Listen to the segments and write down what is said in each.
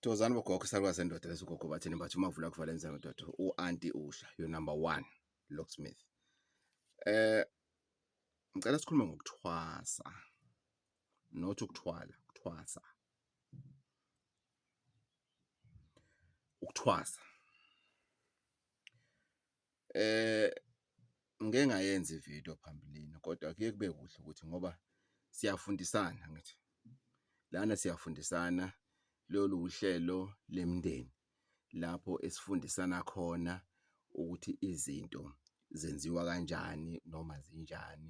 Thokozani bogogo isalukazi sendoda leso gogo bathini bathi uma uvula kuvala enza ndoda u-anti usha your number one locksmith eh ngicela sikhulume ngokuthwasa not ukuthwala ukuthwasa ukuthwasa Ngike ngayenza i-video phambilini kodwa kuye kube kuhle ukuthi ngoba siyafundisana angithi, lana siyafundisana lolu wuhlelo lemndeni lapho esifundisana khona ukuthi izinto zenziwa kanjani noma zinjani.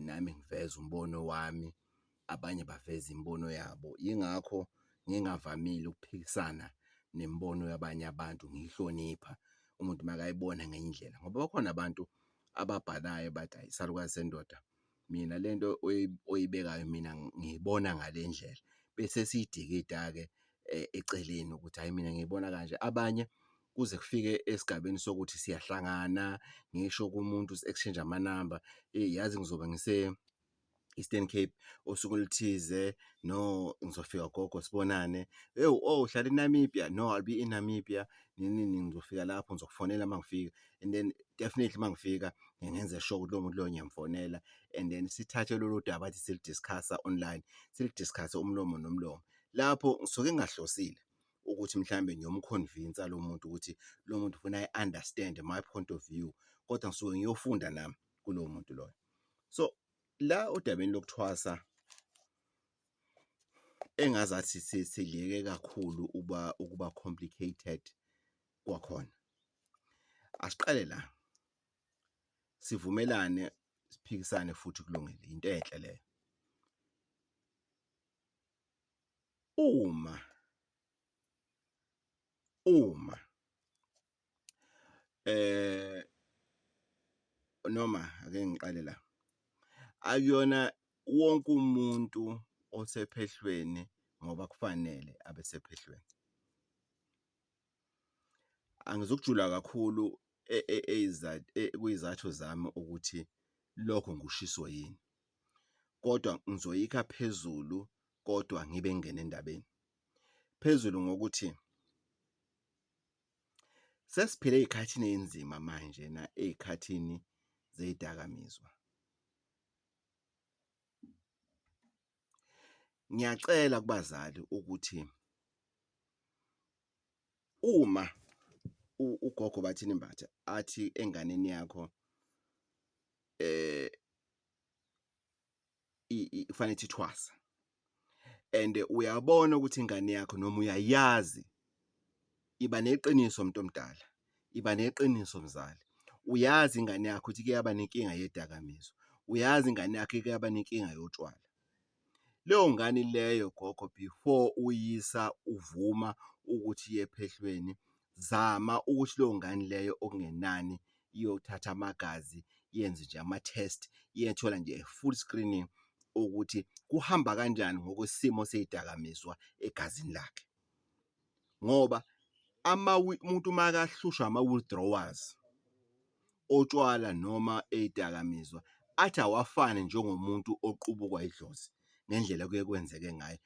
nami ngiveze umbono wami, abanye baveze imibono yabo. Yingakho ngingavamile ukuphikisana nemibono yabanye abantu, ngiyihlonipha umuntu makayibona ngenye indlela ngoba bakhona abantu ababhalayo bathi ayi isalukazi sendoda mina le nto oyibekayo mina ngiyibona ngale ndlela, bese siyidikida-ke eceleni ukuthi hhayi mina ngiyibona kanje. Abanye kuze kufike esigabeni sokuthi siyahlangana ngisho kumuntu si exchange ama number eh yazi ngizobe ngise Eastern Cape osuku oluthize no ngizofika gogo sibonane hey oh uhlala eNamibia no I'll be in Namibia nini nini ngizofika lapho ngizokufonela mangifika and then definitely mangifika ngenze sure ukuthi lo muntu lo ngiyamfonela and then sithathe lolu daba athi silidiscussa online silidiscusse umlomo nomlomo lapho ngisuke ngingahlosile ukuthi mhlawumbe ngiyomkhonvinsa lo muntu ukuthi lo muntu ufuna i-understand my point of view kodwa ngisuke ngiyofunda nami kulowo muntu loyo so la odabeni lokuthwasa engazathi siliyeke kakhulu uba ukuba complicated kwakhona asiqale la sivumelane siphikisane futhi kulungile into enhle leyo Uma, uma, eh, noma ake ngiqale la, akuyona wonke umuntu osephehlweni ngoba kufanele abe sephehlweni. Angizukujula kakhulu kwiy'zathu zami ukuthi lokho ngikushiso yini. kodwa ngizoyikha phezulu kodwa ngibe ngingena endabeni. Phezulu ngokuthi sesiphila ezikhathini ezinzima manje na ezikhathini zezidakamizwa. Ngiyacela kubazali ukuthi uma ugogo bathini Mbatha athi enganeni yakho eh kufanele ithi thwasa and uyabona ukuthi ingane yakho noma uyayazi iba neqiniso umuntu omdala iba neqiniso mzali uyazi ingane yakho ukuthi kuyaba nenkinga yedakamizwa uyazi ingane yakho kuyaba nenkinga yotshwala. Leyo ngane ileyo gogo before uyisa uvuma ukuthi iye ephehlweni zama ukuthi leyo ngane ileyo okungenani iyothatha amagazi yenze nje ama-test iyethola nje full screening ukuthi kuhamba kanjani ngokwesimo sey'dakamizwa egazini lakhe. ngoba umuntu makahlushwa ama-withdrawals otshwala noma ey'dakamizwa athi awafane njengomuntu oqubukwa idlozi ngendlela okuye kwenzeke ngayo,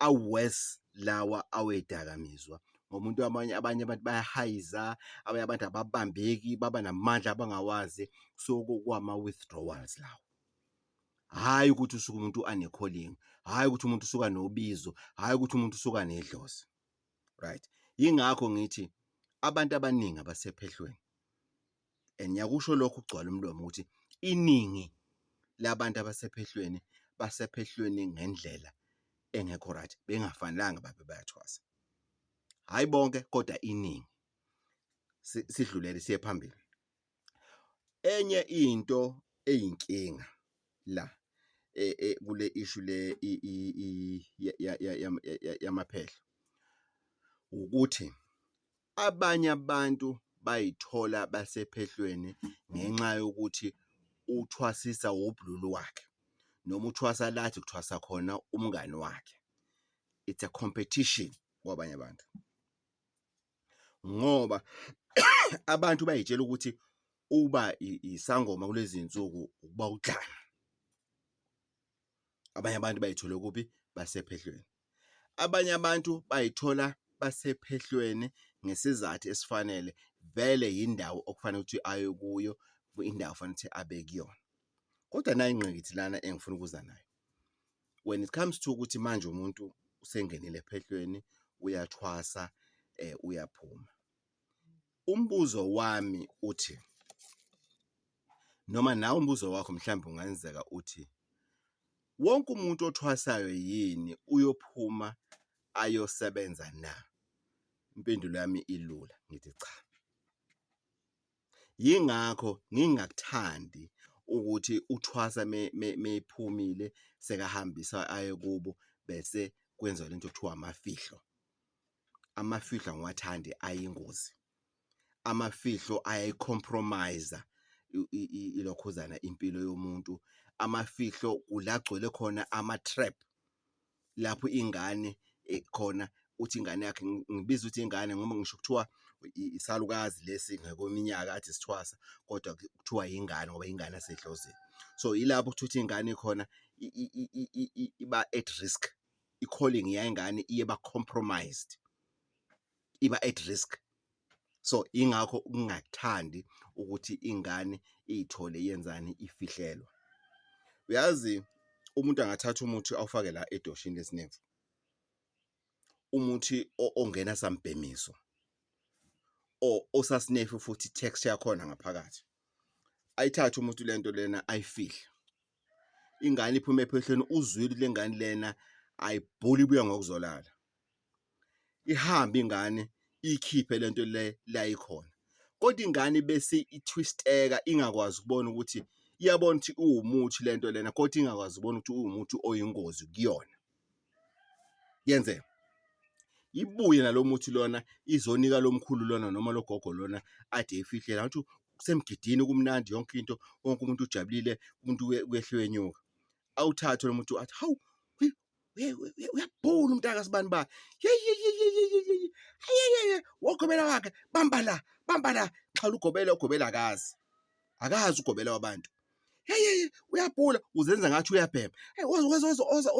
a-worse lawa awey'dakamizwa ngoba umuntu abanye abantu bayahayiza, abanye abantu ababambeki baba namandla abangawazi so kuwama-withdrawals lawa. hhayi ukuthi usuke umuntu anekholingi hhayi ukuthi umuntu usuka nobizo hhayi ukuthi umuntu usuka nedlozi right yingakho ngithi abantu abaningi abasephehlweni and ngiyakusho lokho ukugcwala umlomo ukuthi iningi labantu abasephehlweni basephehlweni ngendlela engekho right bengafanelanga babe bayathwasa hhayi bonke kodwa iningi sidlulele siye phambili Enye into eyinkinga la kule issue le yamaphehla ukuthi abanye abantu bay'thola basephehlweni ngenxa yokuthi uthwasisa wubulili wakhe noma uthwasa la athi ukuthwasa khona umngani wakhe, it's a competition kwabanye abantu. ngoba abantu bayitshela ukuthi uba isangoma kulezi nsuku ukuba udlame abanye abantu bayithola kuphi basephehlweni abanye abantu bayithola basephehlweni ngesizathu esifanele vele yindawo okufanele ukuthi aye kuyo indawo fanele ukuthi abe kuyona kodwa nayi ingqikithi lana engifuna ukuza nayo when it comes to ukuthi manje umuntu usengenile ephehlweni uyathwasa eh uyaphuma umbuzo wami uthi noma nawe umbuzo wakho mhlawumbe ungenzeka uthi wonke umuntu othwasayo yini uyophuma ayosebenza na impendulo yami ilula ngithi cha Yingakho ngingakuthandi ukuthi uThwasa meyiphumile sekahambisa aye kubo bese kwenziwa lento okuthiwa amafihlo. Amafihlo angiwathandi ayingozi, amafihlo ayayi-compromise-a ilokhuzana impilo yomuntu, amafihlo kula kugcwele khona ama-trap. lapho ingane khona uthi ingane yakhe ngibiza ukuthi ingane ngoba ngisho kuthiwa isalukazi lesi ngokweminyaka athi isithwasa kodwa kuthiwa yingane ngoba ingane yasedlozini. So ilapho kuthiwa ukuthi ingane khona iba at risk i-calling yengane iba compromised. iba at risk. So ingakho ukungathandi ukuthi ingane iy'thole yenzani ifihlelwa. Uyazi umuntu angathatha umuthi awufake la edoshini lesinemfu, umuthi ongena sambhemiso or osasinefu futhi texture yakhona ngaphakathi. Ayithathe umuntu le nto lena ayifihle, ingane iphume ephehlweni uzwile ukuthi le ngane lena ayibhuli ibuya ngokuzolala. ihambe ingane iyikhiphe le nto le la ikhona kodwa ingane bese i-twist-eka ingakwazi ukubona ukuthi iyabona ukuthi uwumuthi le nto lena kodwa ingakwazi ukubona ukuthi uwumuthi oyingozi kuyona yenzeka ibuye nalo muthi lona izonika lo mkhulu lona noma lo gogo lona ade eyifihlela ngathi kusemgidini kumnandi yonke into wonke umuntu ujabulile umuntu uyehlwenyuka awuthathe lo muntu athi hawu uyabhula umntaka sibani ba ayeyeye wogobela wakhe bamba la bamba la xhala ugobela ugobela akazi akazi ugobela wabantu heyeye uyabhula uzenza ngathi uyabhema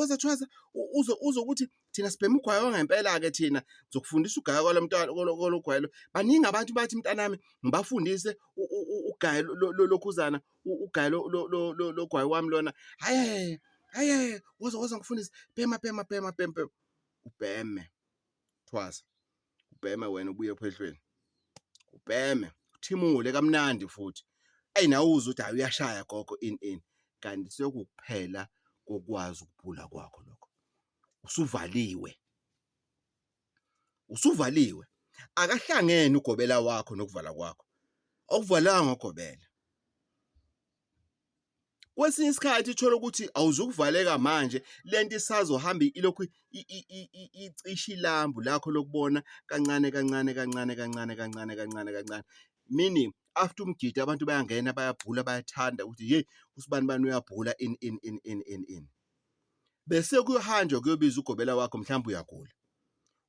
ozathwasa uze uze ukuthi thina sibhema ugwayo wangempela-ke thina zokufundisa ugaya kwalo mntwana kologwayelo baningi abantu bathi mntanami ngibafundise ugaya lokhuzana ugayi logwayi wami lona haye haye woza woza ngifundise bhema bhema bhema bhema bhema ubheme thwasa ubheme wena ubuye ephehlweni ubheme uthimule kamnandi futhi eyi nawe uze ukuthi hayi uyashaya gogo in in kanti sekukuphela kokwazi ukubhula kwakho lokho usuvaliwe usuvaliwe akahlangene ugobela wakho nokuvala kwakho awuvalanga ngogobela kwesinye isikhathi uthole ukuthi awuzukuvaleka manje lento isazohamba ilokhu icisha ilambu lakho lokubona kancane kancane kancane kancane kancane kancane kancane meaning after umgidi abantu bayangena bayabhula bayathanda ukuthi yeyi usibani bani uyabhula in in in in in in bese kuyohanjwa kuyobiza ugobela wakho mhlawumbe uyagula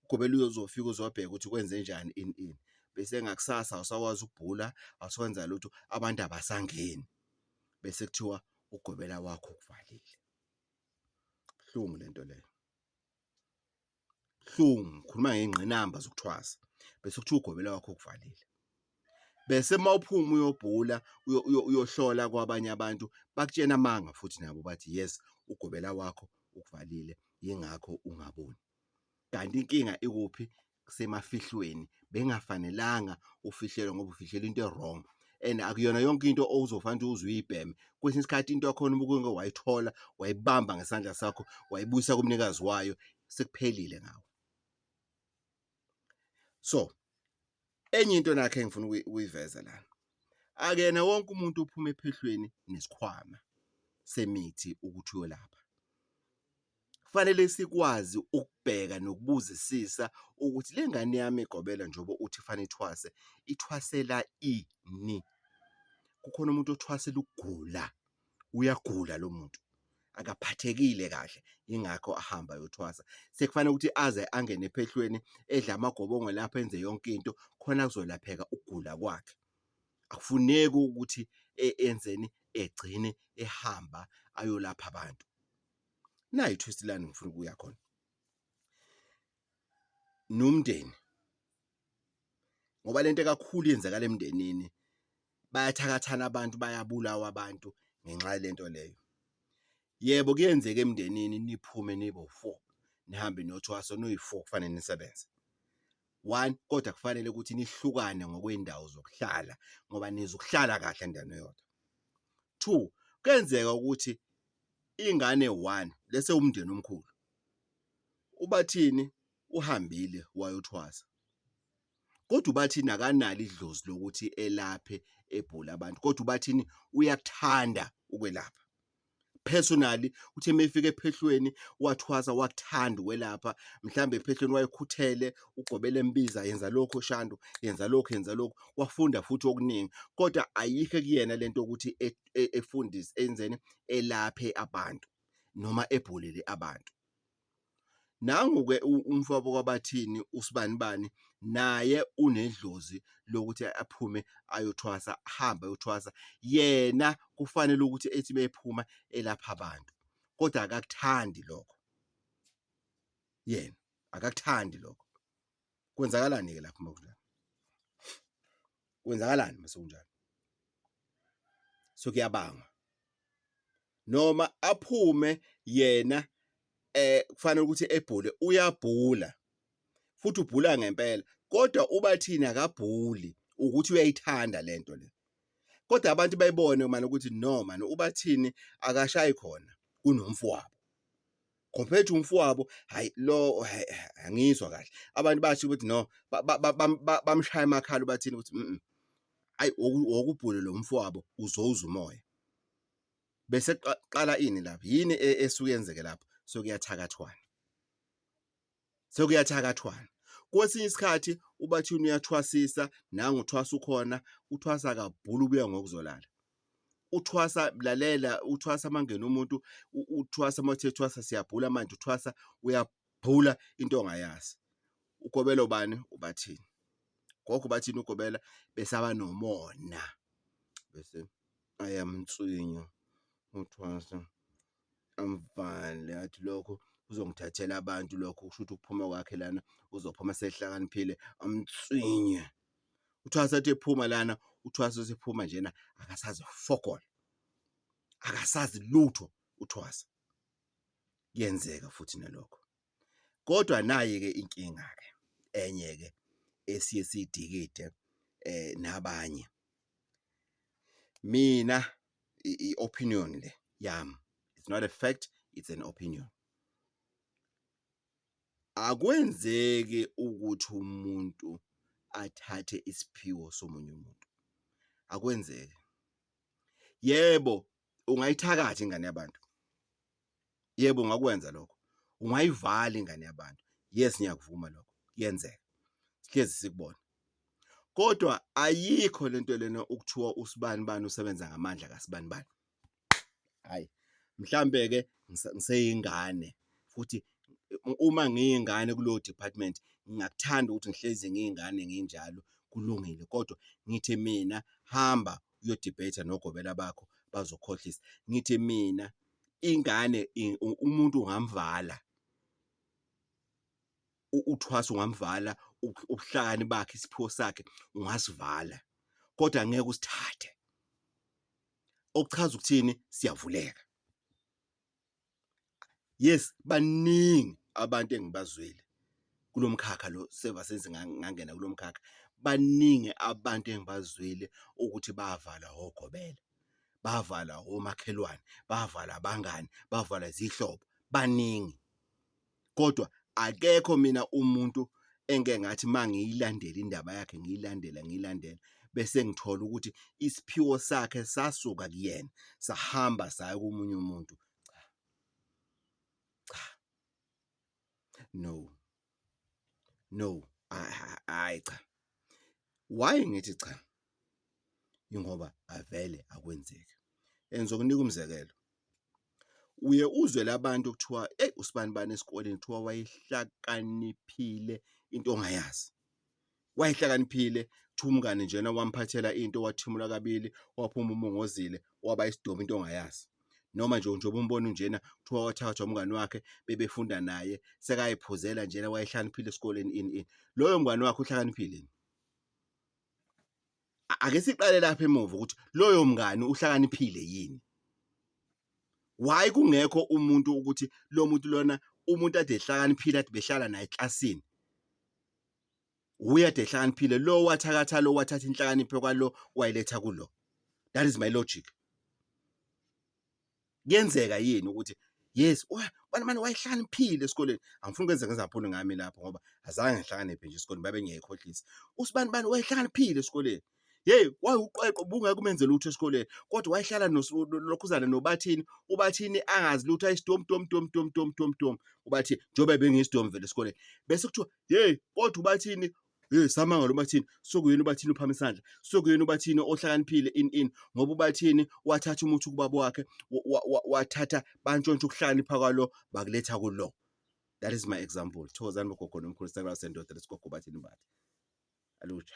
ugobela uyozofika uzobheka ukuthi kwenze njani in in bese ngakusasa awusakwazi ukubhula awusakwenza lutho abantu abasangeni bese kuthiwa ugobela wakho ukuvalile buhlungu lento leyo buhlungu ngikhuluma ngey'ngqinamba zokuthwasa bese kuthiwa ugobela wakho ukuvalile. Bese uma uphuma uyobhula uyohlola kwabanye abantu bakutshena amanga futhi nabo bathi yes ugobela wakho ukuvalile yingakho ungaboni. Kanti inkinga ikuphi? Kusemafihlweni, bengafanelanga ufihlelwe ngoba ufihlelwe into e-wrong, and akuyona yonke into owuzofanele ukuthi uze uyibheme. Kwesinye isikhathi into yakhona uma kuke wayithola, wayibamba ngesandla sakho, wayibuyisa kumnikazi wayo, sekuphelile ngawe. So, enye into nakhe engifuna ukuyi- ukuyiveza lana, akuyena wonke umuntu ophuma ephehlweni nesikhwama semithi ukuthi uyolapha. Kufanele sikwazi ukubheka nokubuzisisa ukuthi le ngane yami egobela njengoba uthi kufanele ithwase, ithwasela ini? Kukhona umuntu othwasela ukugula, uyagula lo muntu, akaphathekile kahle, yingakho ahamba ayothwasa. Sekufanele ukuthi aze angene ephehlweni, edle amagobongo lapho enze yonke into, khona kuzolapheka ukugula kwakhe. Akufuneki ukuthi enzeni, egcine ehamba ayolapha abantu. nayi twist lani ngifuna ukuya khona nomndeni ngoba lento kakhulu yenzakala emndenini bayathakathana abantu bayabulawa abantu ngenxa yalento leyo yebo kuyenzeka emndenini niphume nibo four nihambe nothwaso noyi-four kufanele nisebenze one kodwa kufanele ukuthi nihlukane ngokweyndawo zokuhlala ngoba nizokuhlala kahle endaweni eyodwa. Two, kuyenzeka ukuthi ingane one lese umndeni omkhulu, uBathini uhambile wayothwasa kodwa uBathini akanalo idlozi lokuthi elaphe ebhole abantu kodwa uBathini uyakuthanda ukwelapha. Personally uthe uma efika ephehlweni wathwasa wakuthanda ukwelapha, mhlawumbe ephehlweni wayekhuthele ugobela embiza yenza lokhu Shandu, yenza lokhu, yenza lokhu, wafunda futhi okuningi kodwa ayikho ekuyena le nto yokuthi e, efundise enzeni elaphe abantu noma ebhulele abantu nangu-ke umfowabo kwabathini usibanibani naye unedlozi lokuthi aphume ayothwasa ahambe ayothwasa yena kufanele ukuthi ethi bephuma elapha abantu kodwa akakuthandi lokho yena akakuthandi lokho Kwenzakalani-ke lapho uma kunjalo? Kwenzakalani uma sekunjalo? So kuyabangwa. Noma aphume yena eh kufanele ukuthi ebhule uyabhula futhi ubhula ngempela kodwa uba thina akabhuli ukuthi uyayithanda lento le kodwa abantu bayibone manje ukuthi no manje ubathini akashayi khona kunomfowabo compared to umfowabo hayi lo angizwa kahle abantu bathi ukuthi no bamshaya amakhala bathini ukuthi mhm ayi wokubhule lo mfowabo uzowuza umoya bese qala ini lapha yini e, esuke yenzeke lapho so kuyathakathwana sekuyathakathwana. Kwesinye isikhathi ubathini uyathwasisa, nangu uthwasa ukhona, uthwasa kabhulu ubuya ngokuzolala. Uthwasa lalela, uthwasa mangena umuntu, uthwasa mawuthe thwasa siyabhula manje, uthwasa uyabhula into ongayazi. Ugobela ubani? Ubathini. Gogo ubathini ugobela besaba nomona. Bese ayamnswinya uthwasa. Angivale athi lokho uzongithathela abantu lokho kusho ukuthi ukuphuma kwakhe lana uzophuma sehlakaniphile amtswinye. UThwasa athi ephuma lana uThwasa usephuma njena akasazi ufokola. Akasazi lutho uThwasa. Kuyenzeka futhi nalokho. Kodwa nayi ke inkinga ke enye ke esiye sidikide nabanye. Mina i-opinion le yami it's not a fact it's an opinion akwenzeki ukuthi umuntu athathe isiphiwo somunye umuntu akwenzeki yebo ungayithakathi ingane yabantu Yebo, ungakwenza lokho. Ungayivala ingane yabantu. Yes, ngiyakuvuma lokho. Kuyenzeka. Sihlezi sikubona. Kodwa ayikho lento lena ukuthiwa usibani bani usebenza ngamandla kasibani bani. Hayi. Mhlambe ke ngiseyingane futhi uma ngiyingane kulo department ngingakuthanda ukuthi ngihlezi ngiyingane nginjalo kulungile kodwa ngithi mina hamba uyodebate nogobela bakho bazokhohlisa ngithi mina ingane umuntu ungamvala uthwasa ungamvala ubuhlakani bakhe isiphiwo sakhe ungasivala kodwa ngeke usithathe okuchaza ukuthini siyavuleka yes baningi abantu engibazwile kulomkhakha lo sevasenze ngangena kulomkhakha baningi abantu engibazwile ukuthi bavala hogobela bavala omakhelwane, bavala abangani, bavala izihlobo, baningi. Kodwa akekho mina umuntu engike ngathi uma ngiyilandela indaba yakhe ngiyilandela ngiyilandela bese ngithola ukuthi isiphiwo sakhe sasuka kuyena sahamba saya komunye umuntu cha cha no No hhayi cha, why ngithi cha? Yingoba avele akwenzeki and ngizokunika umzekelo, uye uzwe la bantu kuthiwa eyi usibanibani esikoleni kuthiwa wayehlakaniphile into ongayazi. wayehlakaniphile thumkani njena wamphathela into wathimula kabili waphuma umongozile waba isidomu into ongayazi noma nje njengoba umbona njena kuthiwa wathathwa umngani wakhe bebefunda naye sekayiphuzela njena wayehlaniphile esikoleni ini ini loyo mngani wakhe uhlakaniphile ake siqale lapha emuva ukuthi loyo mngani uhlakaniphile yini why kungekho umuntu ukuthi lo muntu lona umuntu ade ehlakaniphile ade behlala naye eklasini uyede ehlakaniphile lo wathakatha lo wathatha inhlakanipho kwalo wayiletha kulo that is my logic kuyenzeka yini ukuthi yes wena manje wayehlaniphile esikoleni angifuni kwenze ngezaphuni ngami lapho ngoba azange ngihlakaniphe nje esikoleni babe ngiyayikhohlisa usibani bani wayehlaniphile esikoleni Hey wayewuqweqwe ubungeke umenze lutho esikoleni kodwa wayehlala nokhuzana nobathini ubathini angazi lutho ayisidomu tom tom tom tom tom tom ubathi njengoba bengiyisidomu vele esikoleni bese kuthiwa hey kodwa ubathini hey samangalo ubathini sokuyena ubathini uphama isandla sokuyena ubathini ohlakaniphile in in ngoba ubathini wathatha umuthi kubaba wakhe wathatha bantshontsha ukuhlakanipha kwalo bakuletha kulo that is my example thokozani bogogo nomkhulu sakulasendoda lesigogo bathini bathi alutsha